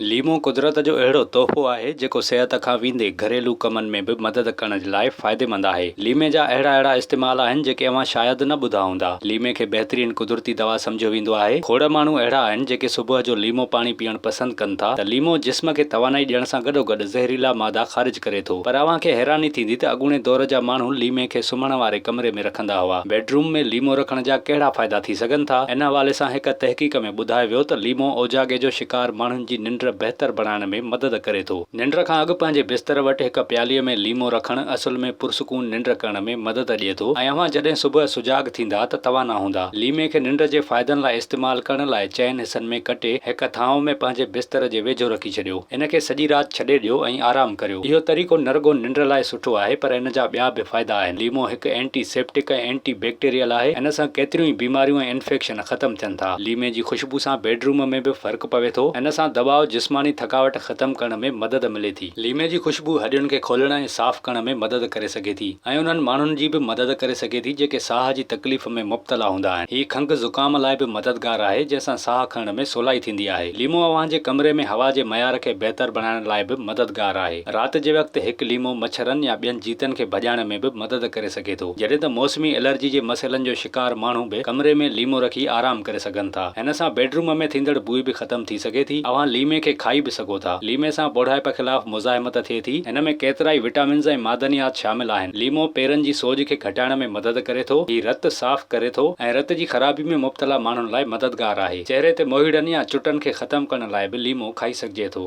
ليمو قدرت جو اهڙو تحفو آهي جيڪو صحت کان ويندي گهريلو ڪمن ۾ به مدد ڪرڻ جي لاء فائديمند آهي. ليمي جا اهڙا اهڙا استعمال آهن جيڪي اوهان شايد نه ٻڌا هوندا. ليمي کي بهترين قدرتي دوا سمجهيو ويندو آهي. کوڙ ماڻهو اهڙا آهن جيڪي صبح جو ليمو پاڻي پيئڻ پسند ڪن ٿا ته ليمو جسم کي توانائي ڏيڻ سان گڏوگڏ زهريلا مادا خارج ڪري ٿو پر اوهان کي حيراني ٿيندي ته اڳوڻي دور جا ماڻهو ليمي کي سمهڻ واري ڪمري ۾ رکندا هئا. بيڊروم ۾ ليمو رکڻ جا ڪهڙا فائدا ٿي سگهن ٿا؟ ان حوالي سان هڪ تحقيق ۾. ٻڌايو ويو ته ليمو اوجاڳي جو شڪار ماڻهن جي ننڊ بهتر بڻائڻ ۾ مدد ڪري ٿو. ننڊ کان اڳ پنهنجي بستر وٽ هڪ پيالي ۾ ليمو رکڻ اصل ۾ پرسڪون ننڊ ڪرڻ ۾ مدد ڏئي ٿو ۽ اوهان جڏهن صبح سجاڳ ٿيندا ته توانا هوندا. ليمي کي ننڊ جي فائدن لاء استعمال ڪرڻ لاء چئن حصن ۾ ڪٽي هڪ ٿانو ۾ پنهنجي بستر جي ويجهو رکي ڇڏيو. ان کي سڄي رات ڇڏي ڏيو ۽ آرام ڪريو. اهو طريقو نه رڳو ننڊ لاء سٺو آهي پر ان جا ٻيا به فائدا آهن. ليمو هڪ اينٽي سيپٽڪ ۽ اينٽي بيڪٽيريل آهي. ان سان ڪيتريون ئي بيماريون ۽ انفيڪشن. ختم ٿين ٿا. ليمي جي خوشبو سان بيڊ روم ۾ به فرق پوي ٿو. ان سان دٻاء، جسماني ٿڪاوٽ ختم ڪرڻ ۾ مدد ملي ٿي. ليمي جي خوشبو هڏين کي کولڻ ۽ صاف ڪرڻ ۾ مدد ڪري سگهي ٿي ۽ انهن ماڻهن جي به مدد ڪري سگهي ٿي جيڪي ساهه جي تڪليف ۾ مبتلا هوندا آهن. هي کنگهه زڪام لاء به مددگار آهي جنهن سان ساهه کڻڻ ۾ سولائي ٿيندي آهي. ليمو اوهان جي ڪمري ۾ هوا جي معيار کي بهتر بڻائڻ لاء به مددگار آهي. رات جي وقت هڪ ليمو مڇرن يا ٻين جيتن کي ڀڄائڻ ۾ به مدد ڪري سگهي ٿو. جڏهن ته موسمي الرجي جي مسئلن جو بيڪار ماڻهو به ڪمري ۾ ليمو رکي آرام ڪري سگهن ٿا. هن سان بيڊروم ۾ ٿيندڙ بوء به ختم ٿي سگهي ٿي. اوهان ليمي کي کائي به سگهو ٿا. ليمي سان ٻوڙائپ خلاف مزاحمت ٿئي ٿي. هن ۾ ڪيترائي وٽامنز ۽ معدنيات شامل آهن. ليمو پيرن جي سوڄ کي گهٽائڻ ۾ مدد ڪري ٿو. هي رت صاف ڪري ٿو ۽ رت جي خرابي ۾ مبتلا ماڻهن لاء مددگار آهي. چهري تي موهيڙن يا چٽن کي ختم ڪرڻ لاء به ليمو کائي سگهجي ٿو.